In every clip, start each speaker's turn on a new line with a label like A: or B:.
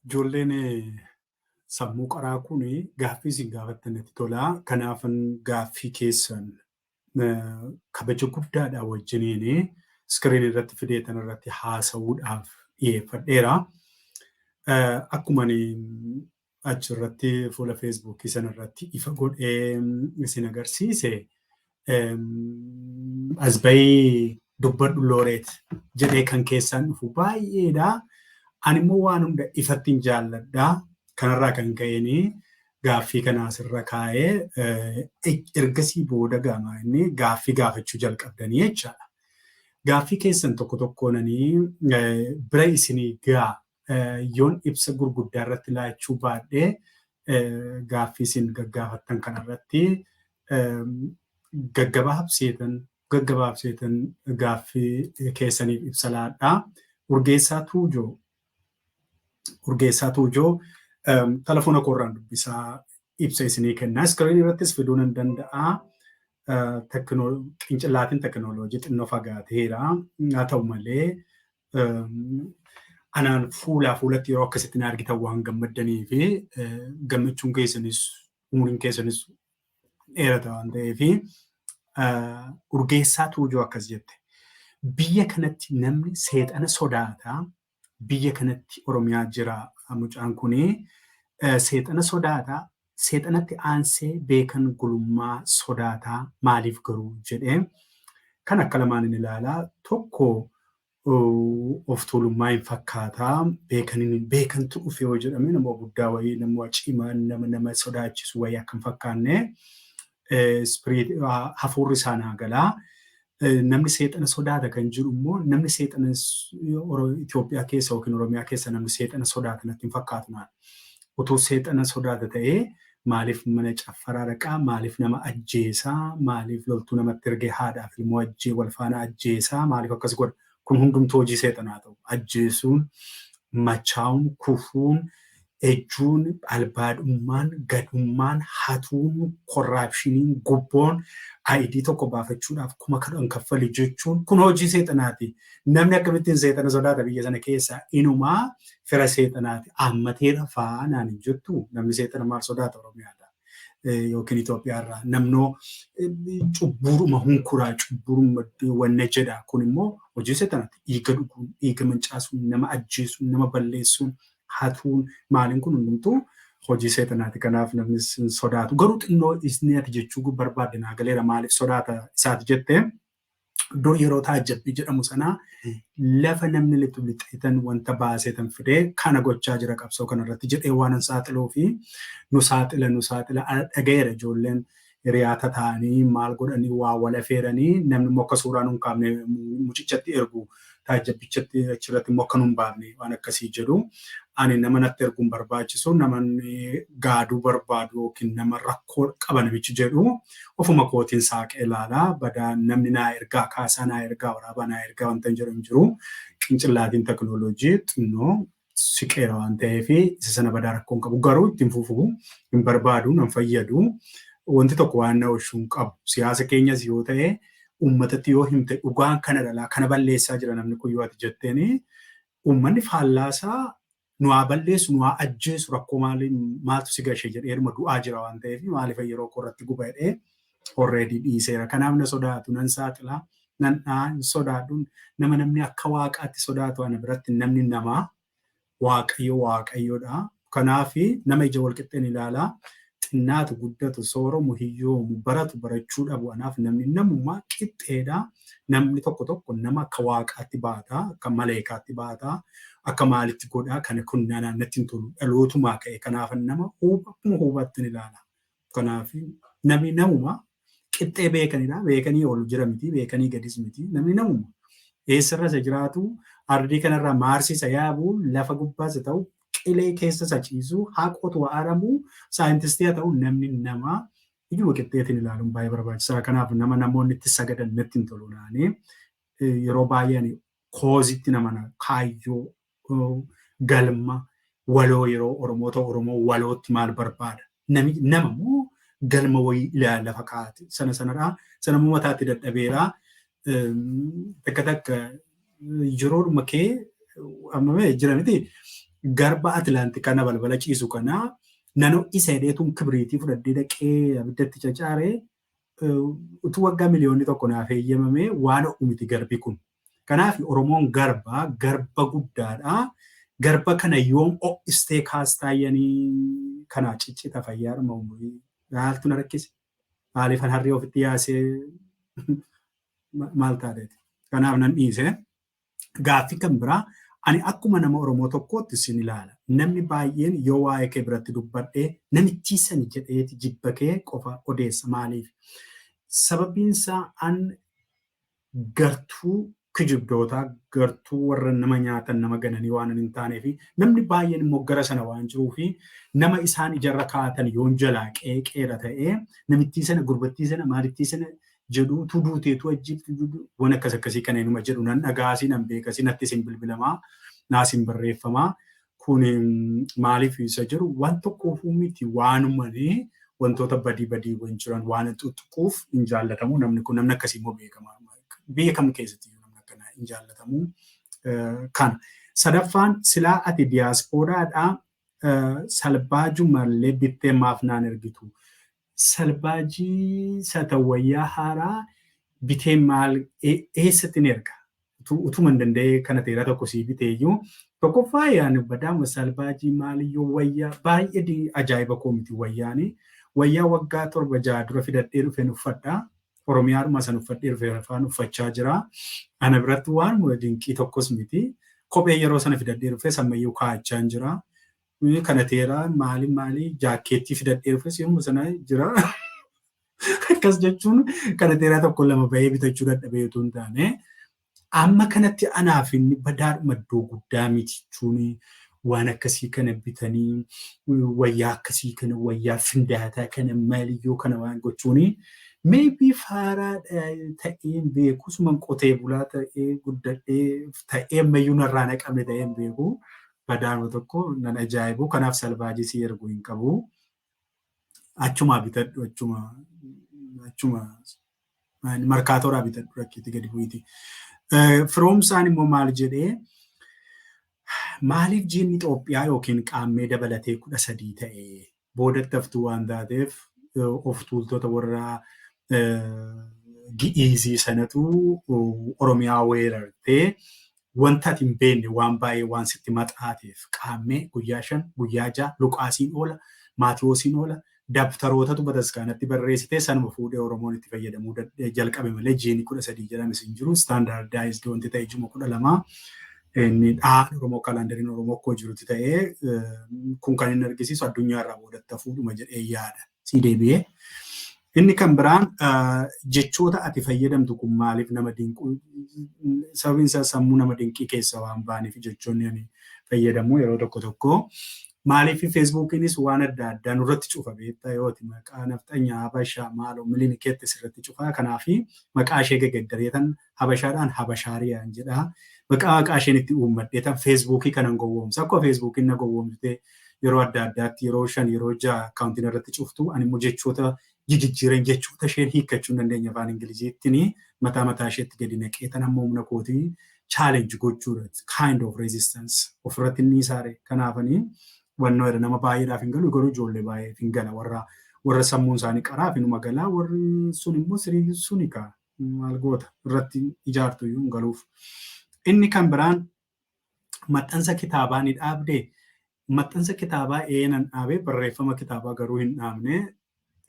A: Ijoolleen sammuu qaraa kun gaaffii isin gaafattan natti tola. Kanaafan gaaffii keessan kabaja guddaadhaa wajjiniin iskiriin irratti fideetan irratti haasa'uudhaaf dhiyeeffadheera. Akkuma achi irratti fuula feesbuukii sana irratti ifa godhee isin agarsiise asbayii dubbadhu looreet jedhee kan keessaan dhufu baay'eedha. Ani immoo waan hunda ifatti hin jaalladha. Kanarraa kan ka'een gaaffii kana asirra kaa'ee ergasii booda gaamaa inni gaaffii gaafachuu jalqabdanii jechaadha. Gaaffii keessan tokko tokkoonanii bira isinii gaa yoon ibsa gurguddaa irratti laachuu baadhee gaaffii isin gaggaafattan kanarratti gaggabaabseetan gaggabaabseetan gaaffii keessaniif ibsa laadhaa. Urgeessaa Tuujoo Urgeessaa Tuujoo telefoona koorraan dubbisaa ibsa isinii kennaa. Iskiriinii irrattis fiduu nan danda'aa. qincillaatiin tekinooloojii xinnoo fagaateera. Haa ta'u malee Anaan fuulaa fuulatti yeroo akkasitti na argitan waan gammaddanii fi gammachuun keessanis umuriin keessanis dheerata waan ta'eef urgeessaa tuujuu akkas jette. Biyya kanatti namni seexana sodaata. Biyya kanatti Oromiyaa jira mucaan kuni seexana sodaata. Seexanatti aansee beekan gulummaa sodaata. Maaliif garuu jedhee kan akka lamaanin ilaala. Tokko of tuulummaa hin fakkaata. Beekanin beekantu dhufe yoo jedhame nama guddaa wayii nama cimaa nama nama sodaachisu wayii akka hin fakkaanne hafuurri isaa naa galaa. Namni seexana sodaata kan jiru immoo namni seexana Itoophiyaa keessa yookiin Oromiyaa keessa namni seexana sodaata natti hin fakkaatu naan. Utuu seexana sodaata ta'ee maaliif mana caffaraa dhaqaa maaliif nama ajjeesaa maaliif loltuu namatti ergee haadhaaf ilmoo ajjee wal faana ajjeesaa maaliif akkas godha Kun hundumtuu hojii seexanaa ta'u, ajjeesuun, machaa'uun, kufuun, ejjuun, albaadhummaan, gadummaan, hatuun, korraapshiniin, gubboon, ID tokko baafachuudhaaf kuma kudhan kaffali jechuun kun hojii seexanaati. Namni akkamittiin seexana sodaata biyya sana keessaa inumaa fira seexanaati. Aammateera fa'aa naan hin jettu namni seexana maal sodaata Oromiyaadhaa. yookiin Itoophiyaa irraa namnoo cubbuuruma hunkuraa cubbuuruma wanna jedha kun immoo hojii seexanaati dhiiga dhuguun dhiiga mancaasuun nama ajjeesuun nama balleessuun hatuun maaliin kun hundumtuu hojii seexanaati kanaaf namni sodaatu garuu xinnoo isni ati jechuu barbaadde naa galeera maaliif sodaata isaati jettee iddoo yeroo taajjabbii jedhamu sanaa lafa namni litu lixeetan wanta baaseetan fidee kana gochaa jira qabsoo kanarratti jedhee waanan saaxiluu fi nu saaxila nu saaxila dhaga'eera ijoolleen hiriyaata ta'anii maal godhanii waa wal afeeranii namni immoo akka suuraa nun kaafne mucichatti ergu taajjabbichatti achirratti immoo akka nu hin baafne waan akkasii jedhu. Ani nama natti erguu hin barbaachisu namanni gaaduu barbaadu yookiin nama rakkoo qaba namichi jedhu ofuma kootiin saaqee ilaala badaa namni naa ergaa kaasaa naa ergaa waraabaa naa ergaa wanta hin jedhu hin jiru qincillaatiin tekinooloojii xinnoo siqeera waan ta'eef isa sana badaa rakkoo hin qabu. Garuu ittiin fufu hin barbaadu, nan fayyadu. Wanti tokko waan na oolchu hin qabu. Siyaasa keenyas yoo ta'e uummatatti yoo himte dhugaan kana dhalaa kana balleessaa jira namni kun yoo ati jetteen uummanni faallaasaa nu haa balleessu nu haa ajjeesu rakkoo maaltu si gahee jedheedhuma du'aa jira waan ta'eef maaliif yeroo koo irratti guba jedhee already dhiiseera kanaaf na sodaatu nan saaxila nan dha'a hin sodaadhu nama namni akka waaqaatti sodaatu ana biratti namni nama waaqayyo waaqayyoodha kanaaf nama ija walqixxeen ilaala xinnaatu guddatu sooromu hiyyoomu baratu barachuu dhabu anaaf namni namummaa qixxeedha namni tokko tokko nama akka waaqaatti baata akka maleekaatti baata akka maalitti godhaa kana kun nana natti hin tolu dhalootumaa ka'e kanaafan nama huuba akkuma huubattin ilaala Kanaaf namni namuma qixxee beekanidha. Beekanii ol jira miti, beekanii gadis miti. Namni namuma eessarra isa jiraatu, ardii kanarraa maarsii isa yaabu, lafa gubbaas haa ta'u, qilee keessa isa ciisu, haa qotu, haa aramu, saayintistii haa ta'u namni nama ijuma qixxeetiin ilaaluun baay'ee barbaachisaadha. Kanaaf nama namoonni itti sagadan natti hin tolu naani yeroo baay'ee ani koozitti nama na kaayyoo uh, galma waloo yeroo Oromoo ta'u Oromoo walootti maal barbaada nami nama moo galma wayii ilaa lafa kaa'ate sana sanadhaa sana moo mataatti dadhabeeraa um, takka takka yeroodhuma kee amma mee jira miti garba Atlaantik kana balbala ciisu kana nano isa hidheetuun kibiriitii fudhadhee dhaqee abiddatti cacaaree utuu waggaa miliyoonni tokko naaf eeyyamamee waan ho'u miti garbi kun. Kanaaf Oromoon garba, garba guddaadha. Garba kana yoom ho'istee kaastaa yanii kana ciccita fayyaadhuma umurii. Maaltu na rakkise? Maaliifan harree ofitti yaasee maal taateeti? Kanaaf nan dhiise. Gaaffi kan biraa ani akkuma nama Oromoo tokkootti sin ilaala. Namni baay'een yoo waa'ee kee biratti dubbadhe namittii sani jedheeti jibba kee qofa odeessa. Maaliif? Sababbiin isaa an gartuu kijibdootaa, gartuu warra nama nyaatan nama gananii waanan hin taaneefi namni baay'een immoo gara sana waan jiruufi nama isaan ijarra kaa'atan yoon jalaa qeeqeera ta'ee namittii sana gurbattii sana maalittii sana jedhu utuu duutee utuu ajjeefte wan akkas akkasii kana inuma jedhu nan dhagahaa siin an beekasi natti isin bilbilamaa naa isin barreeffamaa kun maaliif isa jedhu waan tokkoofuu miti waanumani wantoota badii badiiwwan jiran waan xuxquuf hin jaallatamu namni kun namni akkasii immoo beekama biyya kam keessatti iyyuu namni akkana hin jaallatamu kana sadaffaan silaa ati diyaaspooraadhaa Salbaaju mallee bittee maaf naan ergitu? Salbaajii sata wayyaa haaraa bitee maal eessatti ni erga? Utuma hin danda'ee kana teeraa tokko sii biteeyyuu tokkoffaa yaani badaama salbaajii maaliyyoo wayyaa baay'ee ajaa'iba koo miti wayyaani wayyaa waggaa torba ja'a dura fidadhee dhufeen uffadha Oromiyaadhuma san uffadhee dhufeera faan uffachaa jira. Ana biratti waanuma dinqii tokkos miti. Kophee yeroo sana fidadhee dhufe sammayyuu kaa'achaan jira. Eh, Kana teera maali maali jaakkeettii fidadhee dhufe si'uma sana jira. Akkas jechuun kana teeraa tokko lama bahee bitachuu dadhabee utuu hin taane Amma kanatti anaaf inni badaadhuma iddoo guddaa miti jechuun waan akkasii kana bitanii wayyaa akkasii kana wayyaa findaataa kana maaliyyoo kana waan gochuun maybe faaraa ta'een beeku suman qotee bulaa ta'ee guddadhee ta'ee ammayyuu narraa naqame ta'een beeku badaanuma tokko nan ajaa'ibu kanaaf salvaajii si ergu hin qabu Achumaa bitadhu achuma achuma markaatooraa bitadhu rakkiitti gadi bu'iiti. Firoomsaan immoo maal jedhee maaliif jiinni Itoophiyaa yookiin qaammee dabalatee kudha sadii ta'e boodatti haftuu waan taateef of tuultota warra gi'iizii sanatu Oromiyaa weerartee Wanta ati hin beekne waan baay'ee waan sitti maxaateef, Qaammee, guyyaa 5, guyyaa 6, Luqaasiin oola, Maatiwoosiin oola, dabtarootatu bataskaanatti barreessite, sanuma fuudhee Oromoon itti fayyadamuu jalqabe malee jiini 13 jedhames hin jiru, standardized wanti ta'e juma 12 inni dhahaan Oromoo kalaandariin Oromoo akkuma jirutti ta'ee kun kan inni argisiisu addunyaa irraa boodatti hafuudhuma jedhee yaada. sii deebi'ee. Inni kan biraan jechoota ati fayyadamtu kun maaliif nama dinquu sababiin isaa sammuu nama dinqii keessa waan baaniif jechoonni ani fayyadamu yeroo tokko tokko maaliif feesbuukiinis waan adda addaa nurratti cufa beektaa yooti maqaa nafxanyaa habashaa maaloo milini keetti sirratti cufaa kanaafi maqaa ishee gegeddareetan Habashaadhaan Habashaariyaan jedha. Maqaa maqaa isheen itti uummadhee tan feesbuukii kanan gowwoomsa. Akkuma feesbuukiin na gowwoomsitee yeroo adda addaatti yeroo shan yeroo ja'a akkaawuntiin irratti cuftu ani immoo jechoota jijijjiireen jechoota isheen hiikkachuu hin dandeenye afaan Ingiliziittiin mataa mataa isheetti gadi naqee tan amma humna kootii challenge gochuudha. It's kind of resistance. Ofirratti inni isaare kanaafanii wannoo jedha nama baay'eedhaaf hin galu garuu ijoollee baay'eef hin gala warra warra sammuun isaanii qaraaf inuma galaa warri sun immoo sirii suni kaa maal goota irratti ijaartu iyyuu hin galuuf. Inni kan biraan maxxansa kitaabaa ni dhaabdee? Maxxansa kitaabaa ee nan dhaabe barreeffama kitaabaa garuu hin dhaabne.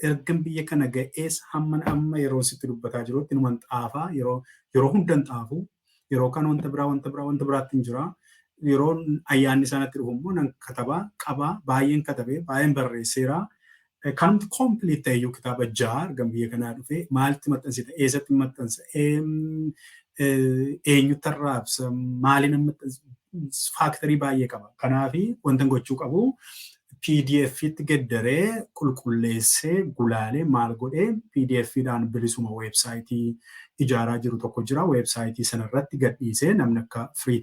A: Ergan biyya kana ga'ees hamman amma yeroon sitti dubbataa jirutti numan xaafaa yeroo yeroo hundan xaafu Yeroo kaan wanta biraa wanta biraa wanta biraattin jira. Yeroo ayyaanni isaa natti dhufu immoo nan kataba, qaba, baay'een katabe, baay'een barreesseera. Kanumti complete ta'e iyyuu kitaaba ja'a ergan biyya kanaa dhufee maaltti maxxansita? Eessatti maxxansa? Eenyutti arraabsa? Maaliin maxxansa? Faaktarii baay'ee qaba. Kanaafi wantan gochuu qabu PDFtti geddaree, qulqulleessee, gulaalee, maal godhee pdf dhaan bilisuma website ijaaraa jiru tokko jira. Website sana irratti gadhiisee namni akka free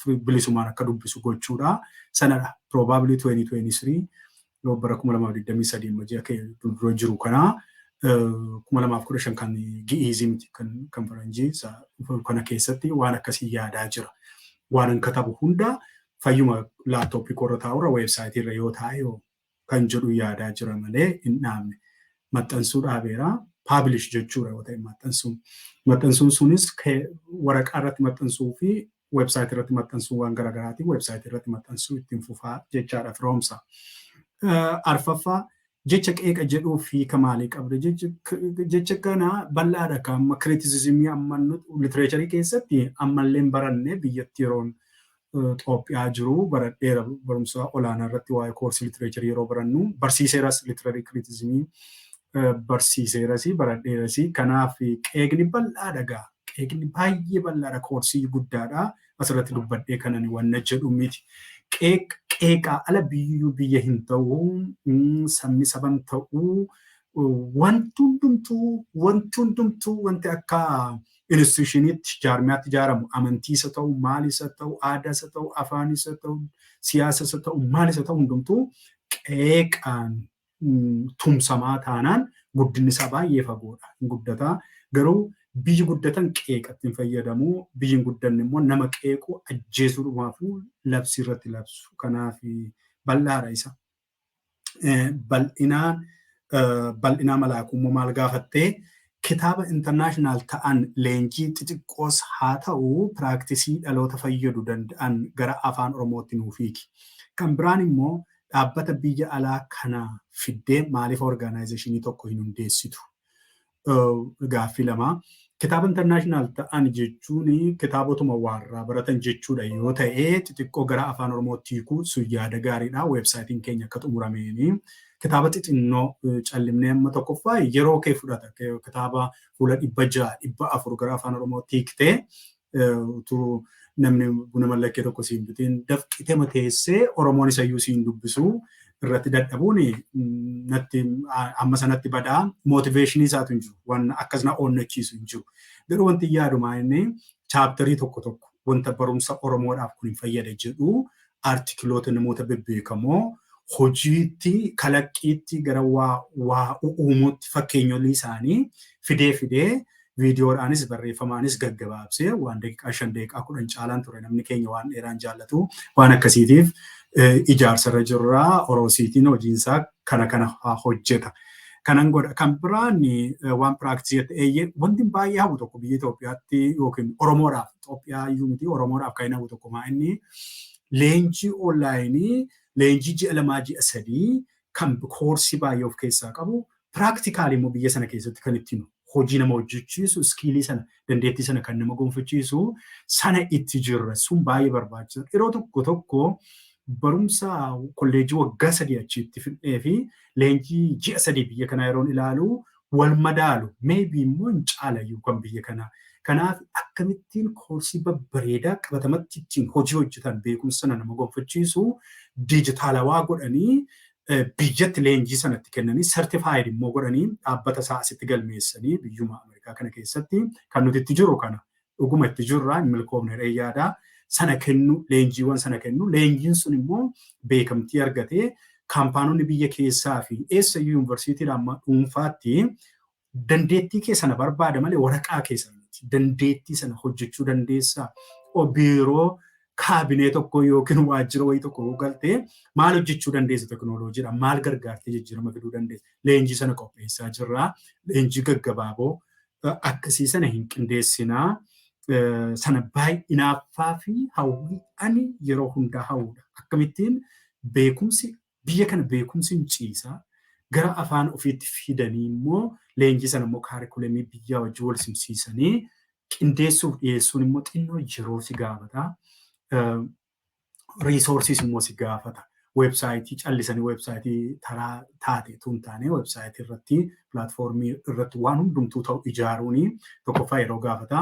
A: free- bilisumaan akka dubbisu gochuudha. Sanadha. Probably 2023 yoo bara 2023 amma ji'a kee dura jiru kana eh, 2015 kan gi'iizii miti kan kan faranjii isa dhufu kana keessatti waan akkasii yaadaa jira. Waanan katabu hunda Fayyuma laptop koorra taa'urra website irra yoo taa'e hoo kan jedhu yaadaa jira malee hin dhaabne. Maxxansuu dhaabeera. Publish jechuudha yoo ta'e maxxansuun. Maxxansuun sunis waraqaa irratti maxxansuu fi website irratti maxxansuu waan garaagaraatiin website irratti maxxansuu ittiin fufaa jechaadha firoomsa. Arfaffaa jecha qeeqa jedhuuf hiika maalii qabda jecha kana bal'aadha kan amma criticismii amma literature keessatti ammallee baranne biyyatti yeroon Xoophiyaa jiru baradheera barumsa olaanaa irratti waa'ee koorsii litireecharii yeroo barannu barsiiseeras litirarii kiriitizimii barsiiseeras baradheeras kanaaf qeeqni bal'aadha gaa qeeqni baay'ee bal'aadha koorsii guddaadha asirratti dubbadhee kanan wanna jedhu miti qeeqaa ala biyyuu biyya hin ta'u sabni saban ta'u wanti hundumtuu wanti hundumtuu wanti akka institushiniitti, jaarmiyaatti ijaaramu amantii isa ta'u, maal isa ta'u, aadaa isa ta'u, afaan isa ta'u, siyaasa isa ta'u, maal isa ta'u hundumtuu qeeqaan tumsamaa taanaan guddinni isaa baay'ee fagoodha. Hin guddataa garuu biyyi guddatan qeeqatti hin fayyadamu. Biyyi hin guddanne immoo nama qeequ ajjeesuudhumaafuu labsii irratti labsu. Kanaaf bal'aadha isa. bal'inaa bal'inaa malaakummoo maal gaafattee kitaaba international ta'an leenjii xixiqqoos haa ta'u piraaktisii dhaloota fayyadu danda'an gara afaan oromootti nuuf hiiki. Kan biraan immoo dhaabbata biyya alaa kana fiddee maaliif orgaanaayizeeshinii tokko hin hundeessitu? Gaaffii lama. Kitaaba international ta'an jechuun kitaabotuma waarraa baratan jechuudha yoo ta'e xixiqqoo gara afaan oromootti hiikuu sun yaada gaariidha weebsaayitiin keenya akka xumurameeni kitaaba xixinnoo callimnee amma tokkoffaa yeroo kee fudhata kitaaba fuula dhibba ja'a dhibba afur gara afaan oromootti hiiktee utuu namni buna mallakkee tokko siin bitiin dafqitema teessee Oromoon isayyuu siin dubbisuu irratti dadhabuun natti amma sanatti badaa mootiveeshinii isaatu hin jiru waan akkas na onnachiisu hin jiru. Garuu wanti yaadumaa inni chaaptarii tokko tokko wanta barumsa Oromoodhaaf kun hin fayyada jedhu artikiloota namoota bebbeekamoo hojiitti, kalaqqiitti gara waa, waa u'uumuutti fakkeenyolii isaanii fidee fidee viidiyoodhaanis barreeffamaanis gaggabaabsee waan daqiiqaa shan daqiiqaa kudhan caalaan ture namni keenya waan dheeraan jaallatu waan akkasiitiif eh, ijaarsarra jirra oroosiitiin hojiinsaa kana kana haa hojjeta. Kanan godha kan biraan eh, waan piraaktisii jette eeyyee wanti baay'ee hafu tokko biyya Itoophiyaatti yookiin Oromoodhaaf Itoophiyaa iyyuu miti Oromoodhaaf kan hin hafu tokko maa inni leenjii onlaayinii leenjii ji'a lamaa ji'a sadii kan koorsii baay'ee of keessaa qabu piraaktikaalii immoo biyya sana keessatti kan ittiin hojii nama hojjechiisu iskiilii sana dandeettii sana kan nama gonfachiisu sana itti jirra sun baay'ee barbaachisa yeroo tokko tokko barumsa kolleejii waggaa sadii achiitti fidhee fi leenjii ji'a sadii biyya kanaa yeroon ilaalu wal madaalu may be immoo hin caalayyuu kan biyya kanaa. Kanaaf akkamittiin koorsii babbareedaa qabatamatti ittiin hojii hojjetan beekumsa sana nama gonfachiisu diijitaalawaa godhanii biyyatti leenjii sana itti kennanii certified immoo godhanii dhaabbata isaa asitti galmeessanii biyyuma Ameerikaa kana keessatti kan nuti itti jirru kana Dhuguma itti jirra hin milkoofne jedhee yaada. Sana kennu leenjiiwwan sana kennu leenjiin sun immoo beekamtii argatee kaampaanonni biyya keessaa fi eessayyuu yuunivarsiitiidha amma dhuunfaatti dandeettii kee sana barbaada malee waraqaa kee sana miti. Dandeettii sana hojjechuu dandeessaa biiroo kaabinee tokko yookiin waajjira wayii tokko yoo galte maal hojjechuu dandeessa tekinooloojiidha maal gargaartee jijjiirama fiduu dandeessa leenjii sana qopheessaa jirra leenjii gaggabaaboo akkasii sana hin qindeessinaa. Sana baay'inaaffaa fi hawwii ani yeroo hundaa hawwudha. Akkamittiin beekumsi biyya kana beekumsi hin ciisa. Gara afaan ofiitti fidanii immoo leenjii sana immoo kaarikulamii biyyaa wajjin wal simsiisanii qindeessuuf dhiyeessuun immoo xinnoo yeroo si gaafata. resources immoo si gaafata. Websaayitii callisanii websaayitii taraa taate tun taane websaayitii irratti pilaatfoormii irratti waan hundumtuu ta'u ijaaruun tokkoffaa yeroo gaafata.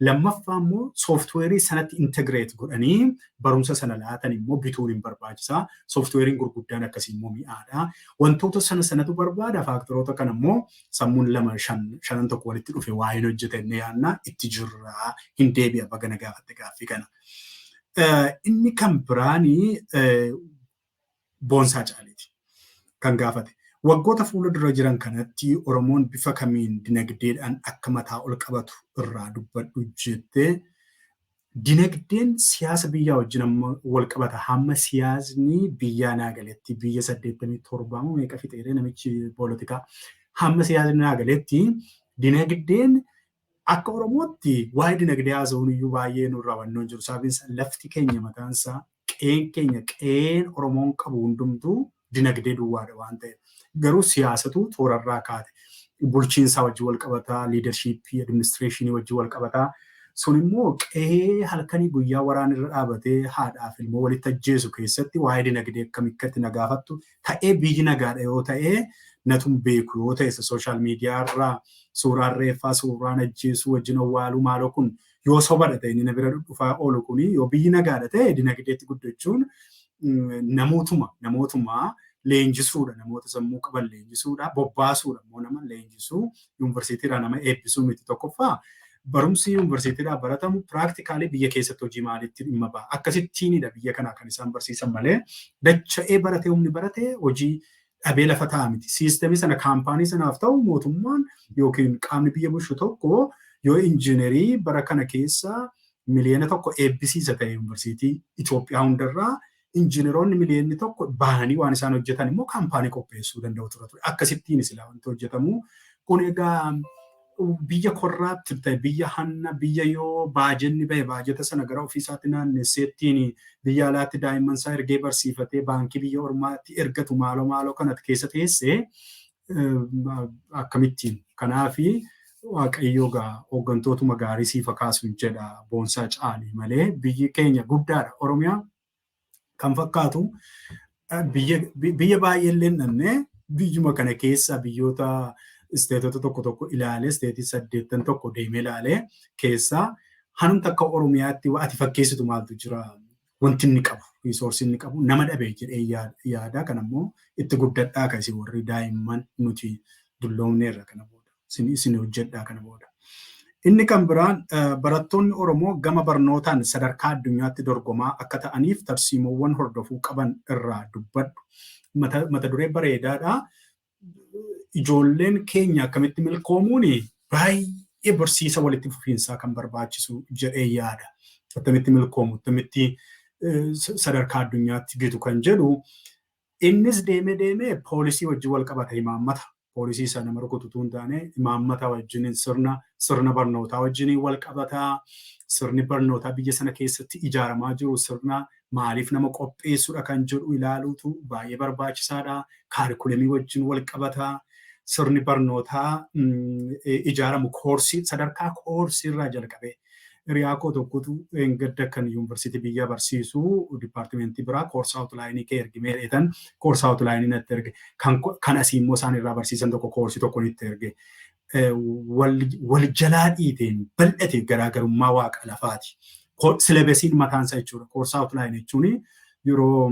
A: Lammaffaa immoo sooftiweerii sanatti integreet godhanii barumsa sana laatan immoo bituun hin barbaachisa. Sooftiweeriin gurguddaan akkasii immoo mi'aadha. Wantoota sana sanatu barbaada faaktaroota kana immoo sammuun lama shan shanan tokko walitti dhufe waa hin hojjeta inni yaadna itti jirra hin deebi'a baga na gaafatte gaaffii kana. Eh, Inni kan biraani eh, boonsaa caaleeti kan gaafate. Waggoota fuula dura jiran kanatti Oromoon bifa kamiin dinagdeedhaan akka mataa ol qabatu irraa dubbadhu jettee dinagdeen siyaasa biyyaa wajjin amma wal qabata hamma siyaasni biyyaa naa galetti biyya 87 moo meeqa fixeeree namichi poolitikaa hamma siyaasni naa galetti dinagdeen Akka Oromootti waa'ee dinagdee haasa'uun iyyuu baay'ee nurraa hubannoo hin jiru. Sababiin isaa lafti keenya mataan isaa, qe'een keenya, qe'een Oromoon qabu hundumtuu dinagdee duwwaadha waan ta'eef. Garuu siyaasatu toorarraa kaate. Bulchiinsaa wajjin wal qabata, liidarshiippii, administireeshinii wajjin wal qabata. Sun immoo qe'ee halkanii guyyaa waraanni irra dhaabatee haadhaaf ilmoo walitti ajjeesu keessatti waa'ee dinagdee akkamitti na gaafattu ta'ee biyyi nagaadha yoo ta'ee natun beeku yoo ta'e sooshaal miidiyaa irraa suuraan reeffaa suuraan ajjeesuu wajjin awwaaluu maaloo kun yoo sobadha ta'e inni na bira dhufaa oolu kun yoo biyyi nagaadha ta'e dinagdeetti guddachuun namootuma namootuma leenjisuudha namoota sammuu qaban leenjisuudha bobbaasuudha immoo nama leenjisuu yuunivarsiitiirraa nama eebbisuu miti tokkoffaa barumsi yuunivarsiitiirraa baratamu piraaktikaalii biyya keessatti hojii maaliitti dhimma ba'a akkasittiinidha biyya kanaa kan isaan barsiisan malee dacha'ee baratee humni baratee hojii dhabee lafa ta'a miti siistemii sana kaampaanii sanaaf ta'u mootummaan yookiin qaamni biyya bulchu tokko yoo injiinerii bara kana keessa miliyoona tokko eebbisiisa ta'e yuunivarsiitii Itoophiyaa hundarraa Injiinaroonni miliyoonni tokko bahanii waan isaan hojjetan immoo kaampaanii qopheessuu danda'u tura ture. Akkasittiin silaa wanti hojjetamu. Kun egaa biyya korraatti ta'e biyya hanna biyya yoo baajenni bahe baajeta sana gara ofii isaatti naannesseettiin biyya alaatti daa'imman isaa ergee barsiifatee baankii biyya ormaatti ergatu maaloo maaloo kanatti keessa teesse akkamittiin kanaafi waaqayyoo gaa hooggantootuma gaarii siif akaasun jedha boonsaa caalii malee biyyi keenya guddaadha oromiyaa kan fakkaatu biyya baay'eellee dhabnee biyyuma kana keessa biyyoota isteetota tokko tokko ilaalee isteetii saddeettan tokko deemee ilaalee keessaa hanum takka oromiyaatti ati fakkeessitu maaltu jira wanti inni qabu riisoorsii inni qabu nama dhabe jedhee yaada kan ammoo itti guddadhaa ka isin warri daa'imman nuti dulloomneerra kana booda isin hojjedhaa kana booda. Inni kan biraan barattoonni Oromoo gama barnootaan sadarkaa addunyaatti dorgomaa akka ta'aniif tarsiimoowwan hordofuu qaban irraa dubbadhu. Mata duree bareedaadha. ijoolleen keenya akkamitti milkoomuun baay'ee barsiisa walitti fufiinsaa kan barbaachisu jedhee yaada. Akkamitti milkoomu, akkamitti sadarkaa addunyaatti gitu kan jedhu innis deemee deemee poolisii wajjin wal qabata imaammata. Poolisii isa nama rukututuu hin taane imaammata wajjin sirna sirna barnootaa wajjin wal qabata. Sirni barnootaa biyya sana keessatti ijaaramaa jiru sirna maaliif nama qopheessudha kan jedhu ilaaluutu baay'ee barbaachisaadha. Kaarikulamii wajjin wal qabata. Sirni barnootaa ijaaramu koorsii sadarkaa koorsii irraa jalqabee hiriyaa koo tokkotu gadda kan yuunivarsiitii biyya barsiisu dipaartimentii biraa koorsaa awutlaayinii kee ergi mee dheetan koorsaa awutlaayinii natti erge kan asii immoo isaan irraa barsiisan tokko koorsii tokko nitti erge wal jalaa dhiiteen bal'ate garaagarummaa waaqa lafaati. Silabesiin mataan isaa jechuudha. Koorsaa outline jechuun yeroo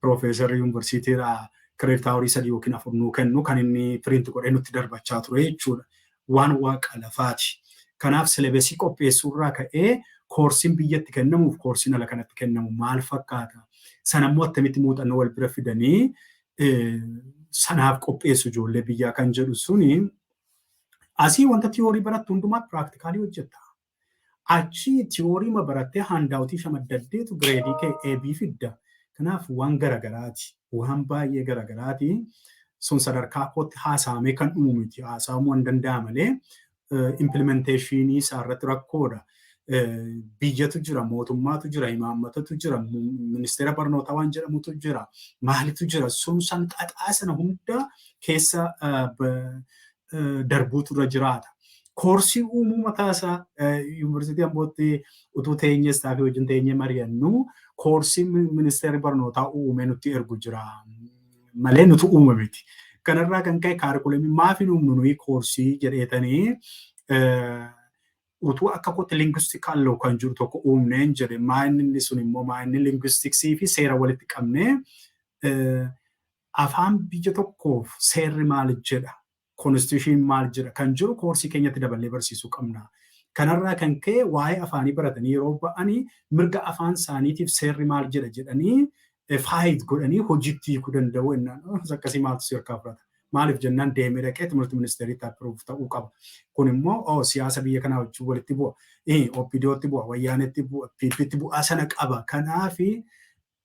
A: piroofeesarri yuunivarsiitiirraa kireedit awurii sadii yookiin afur nuu kennu kan inni piriinti godhee nutti darbachaa ture jechuudha. Waan waaqa lafaati. Kanaaf silabesii qopheessuurraa ka'ee koorsiin biyyatti kennamuuf koorsiin ala kanatti kennamu maal fakkaata? Sanammoo attamitti muuxannoo wal bira fidanii sanaaf qopheessu ijoollee biyyaa kan jedhu suni asii wanta tiyoorii barattu hundumaa piraaktikaalii hojjetta. Achi tiyoorii ma barattee haandaawutii shamaddatteetu gireedii kee eebii fidda. Kanaaf waan garagaraati. Waan baay'ee garagaraati. Sun sadarkaa kootti haasaamee kan dhumu miti. Haasaamuu hin danda'a malee implementeeshinii isaa irratti rakkoodha. Biyyatu jira, mootummaatu jira, imaammatatu jira, ministeera barnootaa waan jedhamutu jira, maalitu jira, sun san xaxaa sana hunda keessa darbuutu irra jiraata. Koorsii uumuu mataa isaa yuunivarsiitii Ambootti utuu teenyee istaafii wajjin teenyee mari'annu koorsii ministeerri barnootaa uumee nutti ergu jira. malee nutu uuma miti. Kanarraa kan ka'e kaarikulamii maaf hin uumnu nuyi koorsii jedheetanii utuu akka kootti linguistical law kan jiru tokko uumneen jedhe maayinni sun immoo maayinni linguistiksii fi seera walitti qabnee afaan biyya tokkoof seerri maal jedha Konstitushiniin maal jedha kan jiru koorsii keenyatti daballee barsiisuu qabna. Kanarraa kan ka'e waa'ee afaanii baratanii yeroo ba'ani mirga afaan isaaniitiif seerri maal jedha jedhanii faayit godhanii hojiitti hiikuu danda'u ennaan akkas akkasii maaltu si harkaa fudhata. Maaliif jennaan deemee dhaqee timirti ministeeriitti appiruuf ta'uu qaba. Kun immoo oo siyaasa biyya kanaa wajjin walitti bu'a. OPDOtti bu'a, Wayyaanetti bu'a, PPtti bu'aa sana qaba. Kanaafi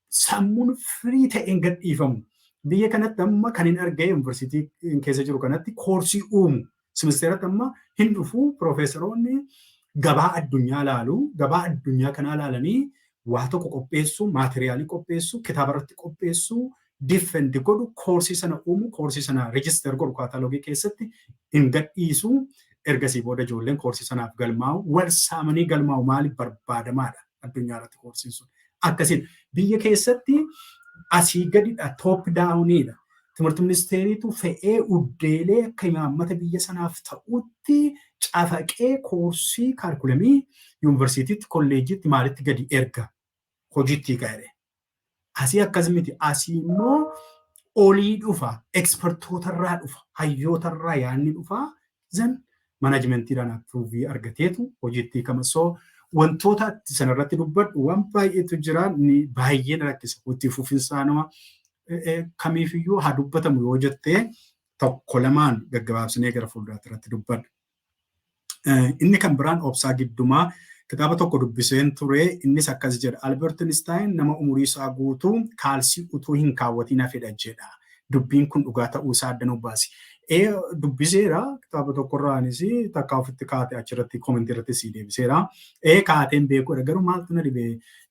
A: sammuun firii ta'een gad dhiifamu. Biyya kanatti amma kan hin argee yuunivarsiitii keessa jiru kanatti koorsii uumu. Simisteeratti amma hin dhufu piroofeesaroonni gabaa addunyaa laalu. Gabaa addunyaa kanaa laalanii waa tokko qopheessu, maateriyaalii qopheessu, kitaaba irratti qopheessu, diffendi godhu, koorsii sana uumu, koorsii sana rijister godhu kaataalogii keessatti hin gadhiisu. Ergasii booda ijoolleen koorsii sanaaf galmaa'u. Wal saamanii galmaa'u maaliif barbaadamaadha? addunyaa irratti koorsiin sun akkasiin biyya keessatti asii gadidha toop daawuniidha timirti ministeeriitu fe'ee uddeelee akka imaammata biyya sanaaf ta'utti cafaqee koorsii kaarkulamii yuunivarsiitiitti kolleejjiitti maalitti gadi erga hojiitti ga'e Asii akkas miti. Asii immoo olii dhufa. Ekspertootarraa dhufa. Hayyootarraa yaadni dhufa. Zan manajimentiidhaan approovii argateetu hojiitti hiikama. So wantoota ati sanarratti dubbadhu waan baay'eetu jira. Ni baay'ee na rakkisa. Itti fufinsaan nama kamiifiyyuu haa dubbatamu yoo jettee tokko lamaan gaggabaabsinee gara fuulduraatti irratti dubbadha. Inni kan biraan Obsaa Giddumaa kitaaba tokko dubbiseen ture innis akkas jedha Albert Einstein nama umurii isaa guutuu kaalsii utuu hin kaawwatiin hafedha jedha. Dubbiin kun dhugaa ta'uu isaa adda nuuf baasi. Ee dubbiseera kitaaba tokkorraanis takka ofitti kaate achirratti koomentii irratti sii deebiseera. Ee kaateen beekuudha garuu maaltu na dhibe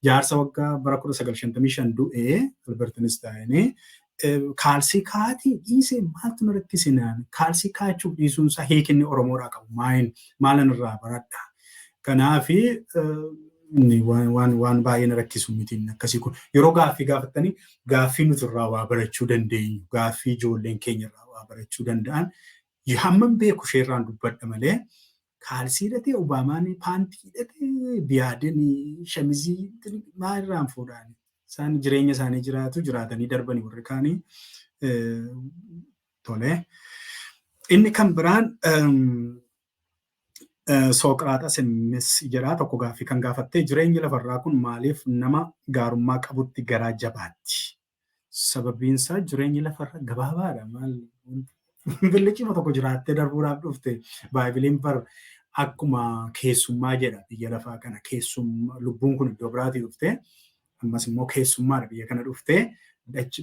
A: jaarsa waggaa bara 1955 du'e Albert Einstein kaalsii kaa'atii dhiisee maaltu na rakkise naan kaalsii kaa'achuuf dhiisuun isaa hiikinni Oromoodhaa qabu maayin maalan irraa baradha. Kanaaf waan waan baay'ee na rakkisu mitiin akkasii kun yeroo gaaffii gaafattanii gaaffii nuti irraa waa barachuu dandeenyu gaaffii ijoolleen keenya irraa waa barachuu danda'an hammam beeku isheerraan dubbadha malee Kaalsii hidhatee Obaamaan paantii hidhatee Biyaadeen shamizii maa irraan fuudhaan isaan jireenya isaanii jiraatu jiraatanii darbanii warri kaanii tole. Inni kan biraan Sooqiraaxas innis jedhaa tokko gaaffii kan gaafattee jireenyi lafarraa kun maaliif nama gaarummaa qabutti garaa jabaatti Sababiinsaa jireenyi lafarra gabaabaadha. Maal billichima tokko jiraattee darbuudhaaf dhufte baaybiliin bar akkuma keessummaa jedha biyya lafaa kana keessummaa lubbuun kun iddoo biraatii dhuftee ammas immoo keessummaadha biyya kana dhuftee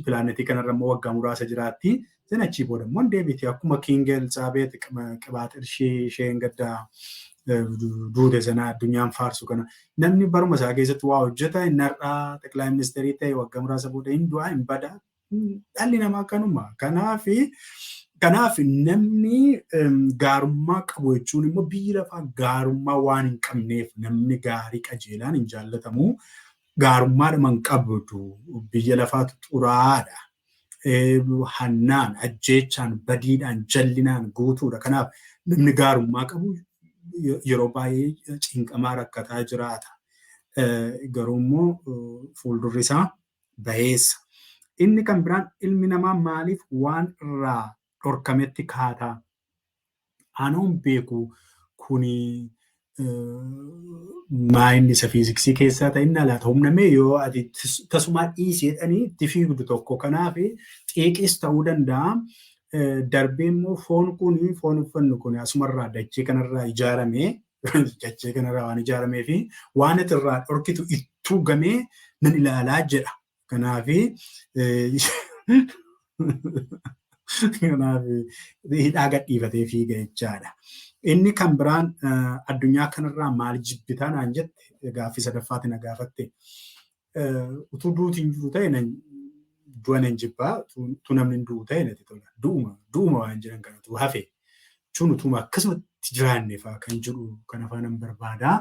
A: pilaanetii kanarra immoo waggaa muraasa jiraatti Sen achii booda immoo hin deebiti akkuma King Elizaabeet qibaaxirshii isheen gaddaa duute sana addunyaan faarsu kana namni baruma isaa keessatti waa hojjeta inni har'aa xeqilaa ministeerii ta'e waggaa muraasa booda hin du'a hin bada dhalli namaa kanuma kanaaf kanaaf namni gaarummaa qabu jechuun immoo biyyi lafaa gaarummaa waan hin qabneef namni gaarii qajeelaan hin jaallatamu gaarummaa dhaman qabdu biyya lafaatu xuraa'aadha hannaan, ajjeechaan, badiidhaan, jallinaan guutuudha. Kanaaf namni gaarummaa qabu yeroo baay'ee cinqamaa rakkataa jiraata. Garuu immoo fuuldurri isaa bayeessa. Inni kan biraan ilmi namaa maaliif waan irraa dhorkametti kaata. Anoon beeku kuni maayinni isa fiiziksii keessaa ta'in alaata humna mee yoo ati tasumaa dhiisi jedhanii itti fiigdu tokko kanaaf xiiqiis ta'uu danda'a. Darbee immoo foon kun foon uffannu kun asumarraa dachee kanarraa ijaarame dachee kanarraa waan ijaaramee fi waan ati irraa dhorkitu ittuu gamee nan ilaalaa jedha. Kanaaf kanaaf hidhaa gadhiifatee fiiga jechaadha. Inni kan biraan addunyaa kanarraa maal jibbitaa naan jette gaaffii sadaffaatti na gaafatte. Utuu duuti hin jiru ta'e du'a nan jibbaa utuu namni hin du'u ta'e natti tola. Du'uma du'uma waan jiran kana utuu hafe jechuun utuuma akkasumatti jiraanne fa'aa kan jedhu kan afaanan barbaada.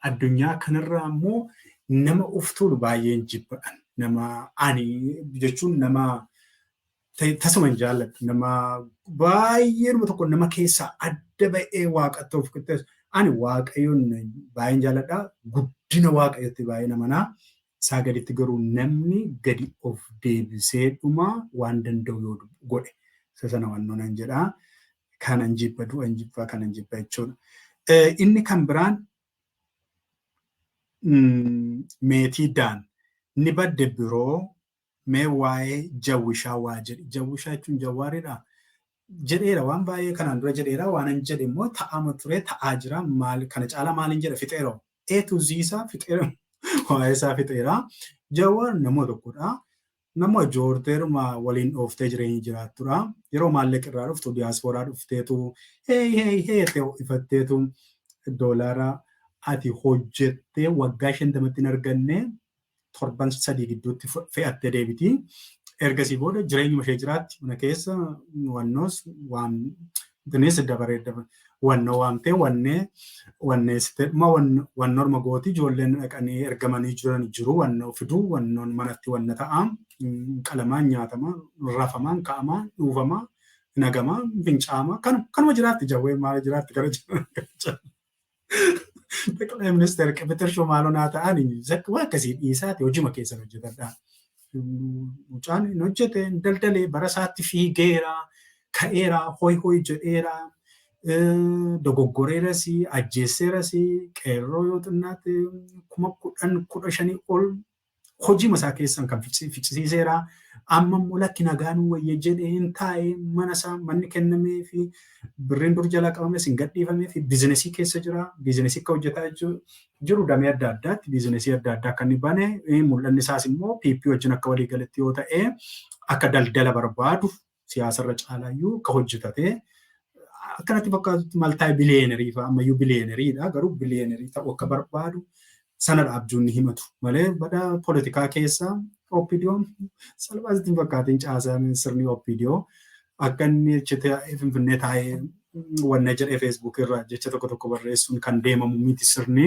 A: addunyaa kanarraa immoo nama of tuulu baay'een jibbadhan. Nama ani jechuun nama tasuma hin jaalladhu. Nama baay'eenuma tokko nama keessaa adda ba'ee waaqatti of qixxeessu. Ani waaqayyoon baay'een jaalladha. Guddina waaqayyotti baay'ee namanaa. isaa gaditti garuu namni gadi of deebisee dhuma waan danda'u yoo godhe isa sana wannoo nan jedha kanan jibba du'an jibba kanan jibba jechuudha. Inni kan biraan meetii daan ni badde biroo Mee waa'ee jawwishaa waa jedhi. Jawwishaa jechuun jawwaariidhaa? Jedheera waan baay'ee kanaan dura jedheera waanan jedhe immoo ta'aama ture ta'aa jira maal kana caalaa maaliin jedha fixeera A to Z isaa fixeera waa'ee isaa fixeera jawwaar nama tokkodha nama joorteeruma waliin dhooftee jireenya jiraattudha yeroo maallaqa irraa dhuftu diyaaspooraa dhufteetu hey hey hey jettee ho'ifatteetu doolaara ati hojjettee waggaa shantamatti hin arganne torban sadii gidduutti fe'attee deebiti. Ergasii booda jireenyuma ishee jiraatti mana keessa wannoos waan bineensi dabaree wannoo waamtee wannee wanneessitee dhuma wannorma gooti ijoolleen dhaqanii ergamanii jiran jiru wannoo fiduu wannoon manatti wanna ta'a qalamaan nyaatama rafamaan ka'amaa dhuufamaa nagamaa fincaama kanuma jiraatti jawwee maal jiraatti gara jiraatti. Dhaqalee ministeera qibixir shumaalonaa ta'an zakka waa akkasii dhiisaati hojima keessan hojjetadha. Mucaan hin hojjete hin daldalee bara isaatti fiigeera ka'eera hoy hoy jedheera dogoggoreeras ajjeesseeras qeerroo yoo xinnaate kuma kudhan kudha shanii ol Hojiima isaa keessan kan ficcisiiseera. Amma immoo lakki nagaanuu wayya jedhee hin taa'ee mana isaa manni kennamee fi birriin dur jalaa qabames hin gadhiifamee fi biizinesii keessa jira. Biizinesii akka hojjetaa jiru damee adda addaatti biizinesii adda addaa akka inni bane mul'anni isaas immoo PP wajjin akka walii galetti yoo ta'e akka daldala barbaadu siyaasarra caalaayyuu ka hojjetate akka natti fakkaatutti maltaay biliyeenerii fa'a ammayyuu biliyeeneriidha garuu biliyeenerii ta'uu akka barbaadu sanadha abjuunni himatu malee bada poolitikaa keessa OPDOn salphaa sitti hin fakkaatiin caasaan sirni OPDO akka inni achi taa'ee finfinnee taa'ee wanna jedhee feesbuuk irra jecha tokko tokko barreessuun kan deemamu miti sirni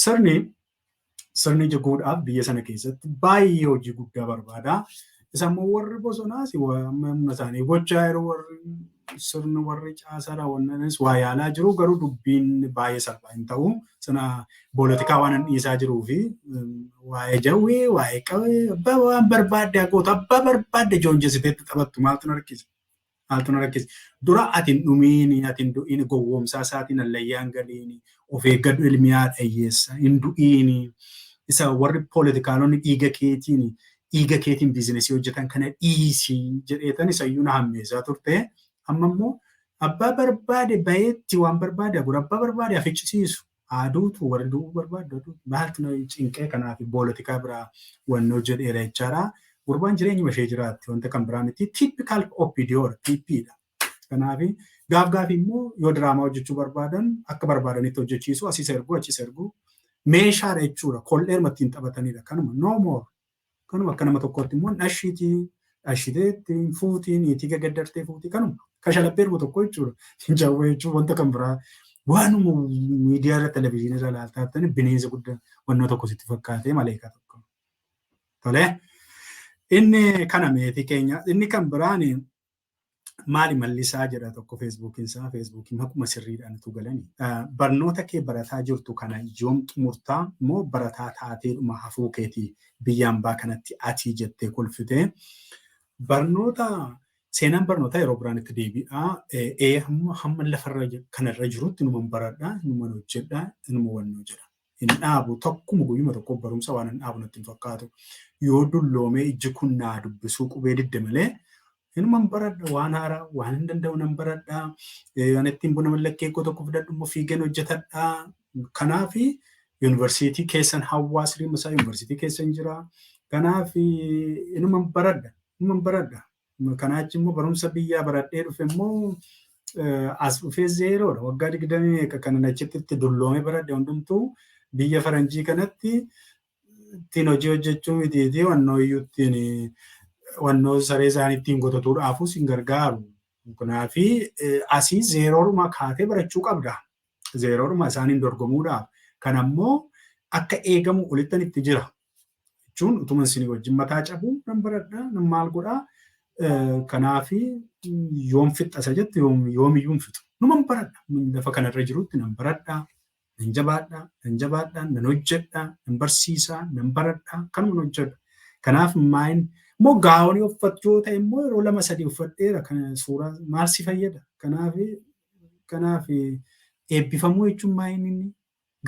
A: sirni sirni ija goodhaaf biyya sana keessatti baay'ee hojii guddaa barbaada. Isa immoo warri bosonaas amma humna isaanii gochaa yeroo warri sirni warri caasaa raawwannanis waa yaalaa jiru garuu dubbiin baay'ee salphaa hin ta'u. Sana boolatikaa waan hin dhiisaa jiruu fi waa'ee jawwee waa'ee qawwee abbaa waan barbaadde goota abbaa barbaadde joonjessiteetti taphattu maaltu narkisa. Maaltu na rakkise? Dura ati hin dhumiini, ati hin du'iini, gowwoomsaa isaatiin hallayyaa hin galiini, of eeggadhu ilmi haadha hiyyeessa, hin du'iini. Isa warri poolitikaalonni dhiiga keetiin dhiiga keetiin biizinesii hojjetan kana dhiisi jedheetan isayyuu na hammeessaa turte. Amma immoo abbaa barbaade bayeetti waan barbaade abbaa barbaade haficcisiisu. Aduutu warri du'uu barbaaddu aduu maaltu na cinqee kanaafi boolatikaa biraa wanni hojjedheera jechaadha. Gurbaan jireenyuma ishee jiraatti wanta kan biraa miti typical OPDO dha PP dha. Kanaafi gaaf gaafii immoo yoo diraamaa hojjechuu barbaadan akka barbaadanitti hojjechiisu asis ergu achis ergu meeshaadha jechuudha kol'eeruma ittiin taphatanidha kanuma no more. Kanuma akka nama tokkootti immoo dhashiitii dhashitee ittiin fuutii niitii gaggaddartee fuutii kanuma kashalaphee dhuma tokko jechuudha. Jawwee jechuun wanta kan biraa waanuma miidiyaa irra televizyiinii irra ilaaltaa jirtan bineensa guddaa wannoo tokko sitti fakkaatee maleekaa tokko. Tolee. Inni kana meetii keenya inni kan biraan maali mallisaa jedha tokko feesbuukiin isaa feesbuukiin akkuma sirriidhaan utuu galani. Barnoota kee barataa jirtu kana yoom xumurtaa moo barataa taateedhuma hafuu keetii biyya ambaa kanatti atii jettee kolfitee barnoota seenaan barnootaa yeroo biraan itti deebi'aa ee hamma lafarra kanarra jirutti numan baradha numan hojjedha numa wannoo jedha. hin dhaabu takkuma guyyuma tokko barumsa waan hin dhaabu natti hin fakkaatu yoo dulloomee ijji kun naa dubbisuu qubee didde malee hinuman baradha waan haaraa waan hin danda'u nan baradha waan ittiin buna mallakkee koo tokko fidadhu immoo fiigan hojjetadha kanaaf yuunivarsiitii keessan hawaasni masaa yuunivarsiitii keessan jira kanaaf hinuman baradha hinuman baradha Kanaa achi immoo barumsa biyyaa baradhee dhufe immoo as dhufee zeeroodha. Waggaa digdamii meeqa kanan achitti itti dulloome baradhe hundumtuu biyya faranjii kanatti ittiin hojii hojjechuu miti fi wannoo iyyuu ittiin wannoo saree isaanii ittiin gotatuudhaafuu sin gargaaru. Kanaafi asii zeeroodhuma kaatee barachuu qabda. zeeroodhuma isaaniin dorgomuudhaaf kan ammoo akka eegamu olittan itti jira jechuun utuma isinii wajjin mataa cabuu nan baradha nan maal godha kanaafi yoom fixxasa jette yoomiyyuu hin fixu numan baradha lafa kanarra jirutti nan baradha nan jabaadha nan jabaadha nan hojjedha nan barsiisa nan baradha kanuma nan hojjedha kanaaf maayin immoo gaawonii uffachuu ta'e immoo yeroo lama sadii uffadheera kan suuraa maal si fayyada kanaaf Kanaaf eebbifamuu jechuun maa inni inni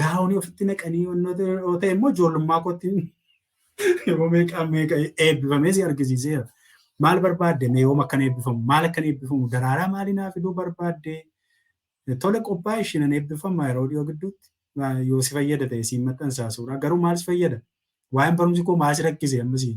A: gaa'onii ofitti naqanii wantoota yoo ta'e immoo ijoollummaa kootti yeroo meeqaa meeqa eebbifamee si argisiiseera. Maal barbaadde mee yoom akkan eebbifamu maal akkan eebbifamu daraaraa maalii naa fiduu barbaadde tole qophaa'e ishii nan eebbifama yeroo dhiyoo gidduutti yoo si fayyada ta'e siin maxxansaa suuraa garuu maal si fayyada waa'een barumsi koo maal si rakkise ammasii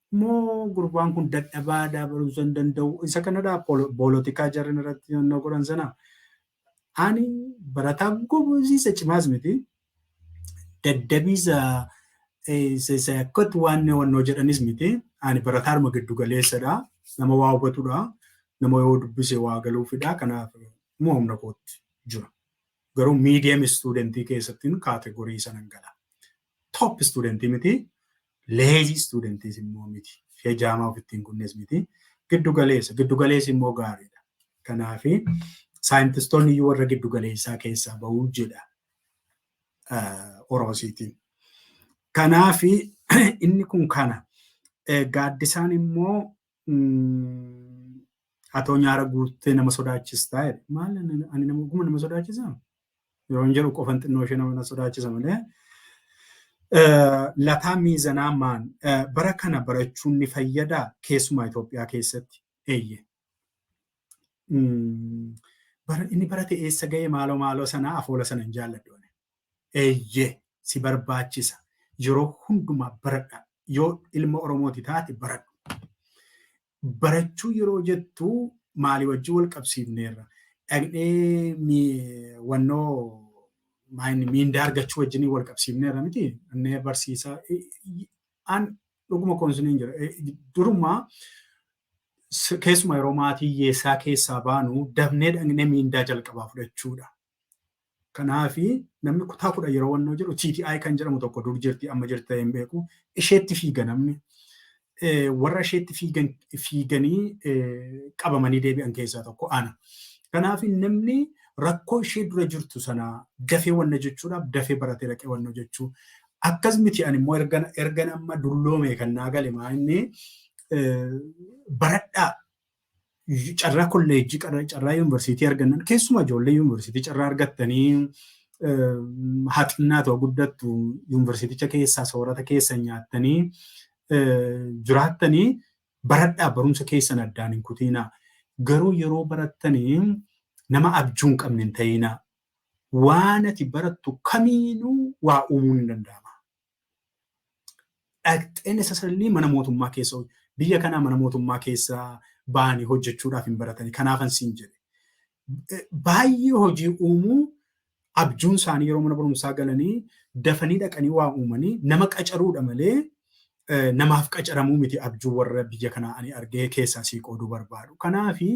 A: Moo gurbaan kun dadhabaadha barumsa hin danda'u isa kanadha boolotikaa jarri irratti yonnoo godhan sana ani barataa gobosiisa cimaas miti daddabiisa isa akkatti waan wannoo jedhanis miti ani barataadhuma giddu galeessadha nama waa hubatudha nama yoo dubbise waa galuufidha kanaaf immoo humna kootti jira garuu miidiyam istuudentii keessattiin kaategorii sanan gala top student miti lazy student immoo miti hejaamaa ofitti hin kunnes miti giddu galeessa giddu galeessi immoo gaariidha kanaaf saayintistoonni iyyuu warra giddu galeessaa keessaa ba'uu jedha oroosiitiin kanaaf inni kun kana gaaddisaan immoo Atoo nyaara guuttee nama sodaachistaa jedhe. Maal ani nama oguma nama sodaachisa? Yeroon jedhu qofan xinnoo ishee nama sodaachisa malee. Lataa miizanaa maan bara kana barachuun ni fayyadaa keessumaa Itoophiyaa keessatti eeyye. Inni barate eessa ga'e maaloo maaloo sana afoola sana hin jaalladhu. Eeyyee si barbaachisa. Yeroo hundumaa baradhaa. Yoo ilma Oromooti taate baradhu. Barachuu yeroo jettu maalii wajjin wal qabsiifneerra? Dhaqnee mi- wannoo maayini miindaa argachuu wajjin wal qabsiifneerra miti. Dhaqnee barsiisaa i- i- an dhuguma koonsiniin jira. E- Durumaa s- keessumaa yeroo maatii hiyyeessaa keessaa baanu dafnee dhaqnee miindaa jalqabaa fudhachuudha. Kanaafi namni kutaa kudha yeroo wannoo jedhu TTI kan jedhamu tokko dur jirti amma jirti ta'ee hin beeku. Isheetti fiiga namni. Warra isheetti fiigan fiiganii qabamanii deebi'an keessaa tokko ana. Kanaaf namni rakkoo ishee dura jirtu sana dafee wanna jechuudhaaf dafee baratee dhaqee wanna jechuu. Akkas miti ani immoo ergan ergan amma dulloome kan naa gale maa inni baradhaa carraa kolleejjii carraa yuunivarsiitii argannan keessumaa ijoollee yuunivarsiitii carraa argattanii haa xinnaatu haa guddattu yuunivarsiiticha keessaa soorata keessa nyaattanii jiraattanii baradhaa barumsa keessan addaan hin kutiinaa garuu yeroo barattanii nama abjuu hin qabne hin ta'iinaa waan ati barattu kamiinuu waa uumuun hin danda'ama. dhaqxee necessarily mana mootummaa keessa hoj- biyya kanaa mana mootummaa keessa ba'anii hojjechuudhaaf hin baratanii kanaafan siin jedhe Eh, baay'ee hojii uumuu abjuun isaanii yeroo mana barumsaa galanii dafanii dhaqanii waa uumanii nama qacaruudha malee eh, namaaf qacaramuu miti abjuu warra biyya kanaa ani argee keessaa sii qooduu barbaadu kanaafi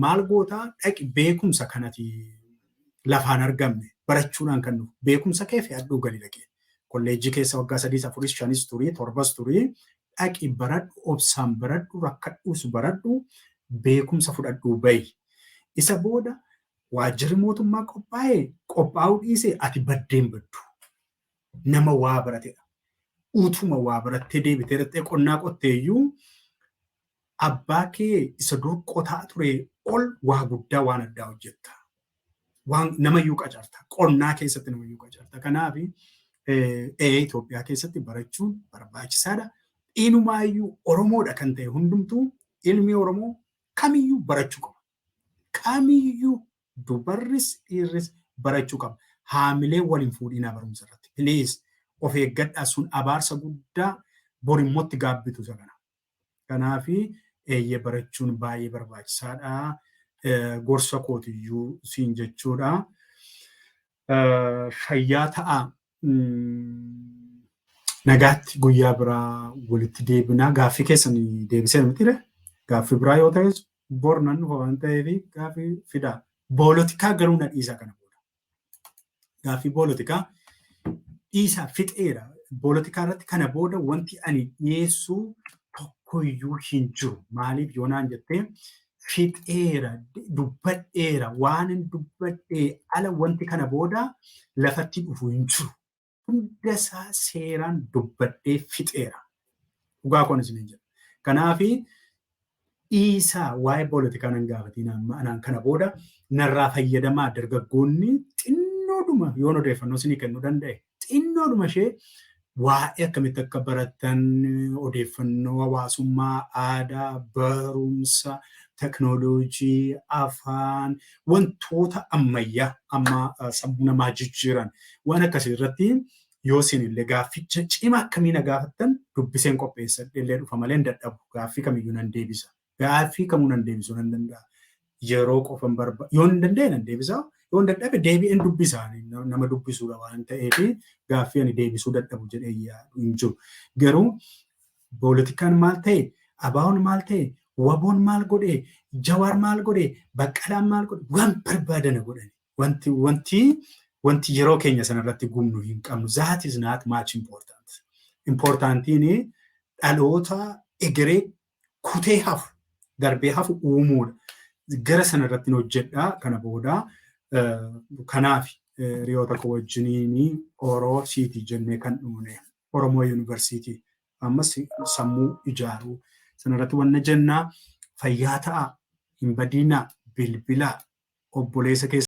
A: maal gootaa dhaqi beekumsa kanati lafaan argamne barachuunaan kan dhufu beekumsa kee fe'adhuu gali dhaqi kolleejjii keessa waggaa sadiis afuris shanis turii torbas turii dhaqi baradhu obsaan baradhu rakkadhuus baradhu beekumsa fudhadhuu bahi isa booda waajjirri mootummaa qophaa'e qophaa'uu dhiise ati baddeen baddu nama waa baratedha utuma waa barattee deebitee dhaqxee qonnaa qotteeyyuu Abbaa kee isa dur qotaa turee ol waa guddaa waan addaa hojjetta. Waan namayyuu qacarta. Qonnaa keessatti namayyuu qacarta. Kanaaf ee Itoophiyaa keessatti barachuun barbaachisaadha. Inumaayyuu Oromoodha kan ta'e hundumtuu ilmi Oromoo kamiyyuu barachuu qaba. Kamiyyuu dubarris dhiirris barachuu qaba. Haamilee wal hin fuudhinaa barumsa irratti. Please of eeggadhaa sun abaarsa guddaa bor immoo itti gaabbitu isa kana. Kanaafi eeyyee barachuun baay'ee barbaachisaadha gorsa kootiyyuu siin jechuudha. Fayyaa ta'a. Nagaatti guyyaa biraa walitti deebinaa gaaffii keessan deebisee mitire gaaffii biraa yoo ta'es bor nan dhufa waan ta'eef gaaffii fidaa. Boolotikaa garuu na dhiisa kana booda. Gaaffii poolitikaa dhiisaa fixeera. Poolitikaa irratti kana booda wanti ani dhiyeessu tokkoyyuu hin jiru. Maaliif yoo naan jettee fixeera, dubbadheera, waan hin dubbadhee ala wanti kana booda lafatti dhufu hin jiru. hunda isaa seeraan dubbadhee fixeera. Dhugaa koon isiniin jedha. Kanaaf dhiisaa waa'ee poolitikaa nan gaafatiin amma anaan kana booda narraa fayyadamaa dargaggoonni xinnoodhuma yoon odeeffannoo isinii kennuu danda'e xinnoodhuma ishee waa'ee akkamitti akka baratan odeeffannoo hawaasummaa aadaa barumsa teknooloojii afaan wantoota ammayyaa amma eh, sammuu namaa jijjiiran waan akkasii irratti yoo isin illee gaafficha cima akkamii na gaafattan dubbiseen qopheessa illee dhufa malee hin dadhabu gaaffii kamiyyuu nan deebisa gaaffii kamuu nan deebisuu nan danda'a yeroo qofan barba yoo hin danda'e nan deebisa yoo hin dadhabe deebi'een dubbisa Ani na- nama dubbisuudha waan ta'eef gaaffii ani deebisuu dadhabu jedhee yaadu hin jiru garuu Boolitikaan maal ta'e? Abaawoon maal ta'e? Waboon maal godhe? Jawaar maal godhe? Baqqalaan maal godhe? Waan barbaadana godhani. Wanti wanti wanti yeroo keenya sanarratti gubnu hin qabnu. That is not much important. Importantiin dhaloota egeree kutee hafu darbee hafu uumuudha. Gara sanarratti hojjedhaa kana booda kanaaf hiriyoota koo wajjiniin oroo siitii jennee kan dhumne. Oromoo University ammas sammuu ijaaruu sana irratti wanna jennaa fayyaa ta'aa hin badiinaa bilbilaa obboleessa keessan